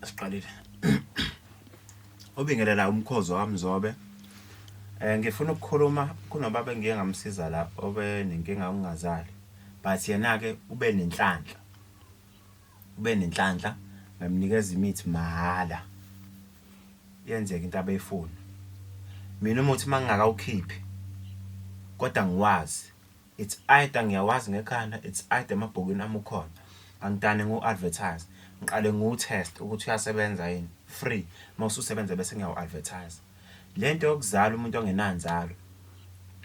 siqalile obingelela umkhozo wamzobe um eh, ngifuna ukukhuluma kunobaba engiye ngamsiza la obe nenkinga ungazali but yena-ke ube nenhlanhla ube nenhlanhla ngamnikeza imithi mahhala yenzeka into abeyifuna mina umuthi uma ngingakawukhiphi kodwa ngiwazi It's either ngiyawazi ngekhanda it's either emabhukwini ami ukhona. Angidane ngiwu advertise. Ngiqale ngiwu test ukuthi uyasebenza yini. Free. Mawususebenza bese ngiyawu advertise. Lento yokuzala umuntu ongenanzalo.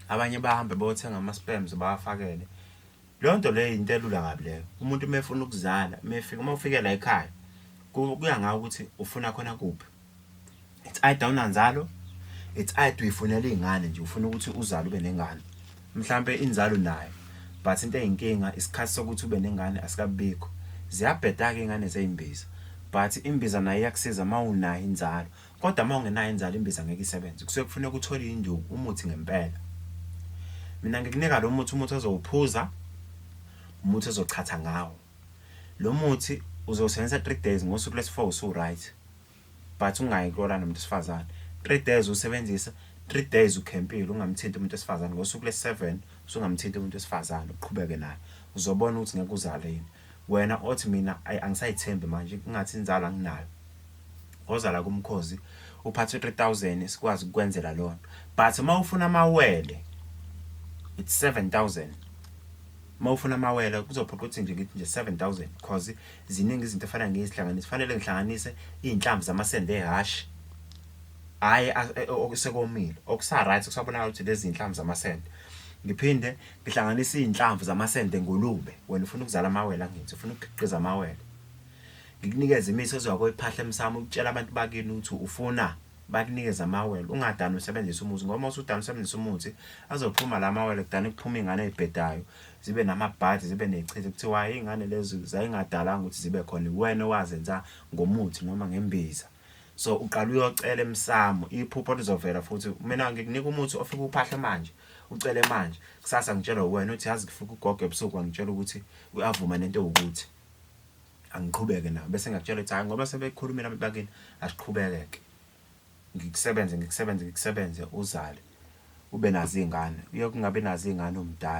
Abanye bahambe bayothenga ama sperms bawafakele. Lonto leyo into elula kabi leyo. Umuntu mefuna ukuzala, mefika uma ufike la ekhaya kuya ngawe ukuthi ufuna khona kuphi. it's either awunanzalo it's either uyifunela iy'ngane nje ufuna ukuthi uzale ube nengane mhlampe inzalo nayo but into eyinkinga isikhathi sokuthi ube nengane asikabikho ziyabheda-ke iy'ngane zey'mbiza but imbiza nayo iyakusiza uma unayo inzalo kodwa uma ungenayo inzalo imbiza ngeke isebenze kusuke kufuneka uthole induku umuthi ngempela mina ngikunika lo muthi umuthi ozowuphuza umuthi ozochatha ngawo Lo muthi uzowusebenzisa three days ngosuku lwesi-four usu-right but ungayi kulala nomuntu wesifazane three days usebenzisa three days ukhempile ungamthinti umuntu wesifazane ngosuku lesi-seven usungamthinti umuntu wesifazane uqhubeke naye uzobona ukuthi ngeke uzale yini wena othi mina angisayithembi manje kungathi inzalo anginayo ozala kumkhozi uphathe 3000 sikwazi ukwenzela lona but uma ufuna amawele it's 7000 uma ufuna amawele kuzophoqa ukuthi nje ngithi nje 7000 because ziningi izinto efana ngizihlanganise fanele ngihlanganise izinhlamvu zamasende ehash hayi e, okusekomile okusa right kusabonakala ukuthi lezi zinhlamvu zamasende ngiphinde ngihlanganise izinhlamvu zamasende ngolube wena ufuna ukuzala amawele angithi ufuna ukukhiqiza amawele ngikunikeza imiso ezwa koyiphahla emsamo ukutshela abantu bakini ukuthi ufuna bakunikeze amawele ungadani usebenzisa umuthi ngoba usudani usebenzisa umuthi azophuma la mawele kudani kuphuma iy'ngane ey'bhedayo zibe namabhadi zibe nechithe kuthiwa iy'ngane lezi zayingadalanga ukuthi zibe khona wena owazenza ngomuthi noma ngembiza so uqala uyocela emsamo iphupho lizovela futhi mina ngikunika umuthi ofika uphahle manje ucele manje kusasa ngitshelwa wena uthi yazi kufika ugogo ebusuku wangitshela ukuthi uyavuma nento ewukuthi angiqhubeke nabo bese ngiyakutshela ukuthi hayi ngoba sebekhulumela abantu bakini asiqhubeke-ke ngikusebenze ngikusebenze ngikusebenze uzale ube nazo iy'ngane uye kungabi nazo iy'ngane umdala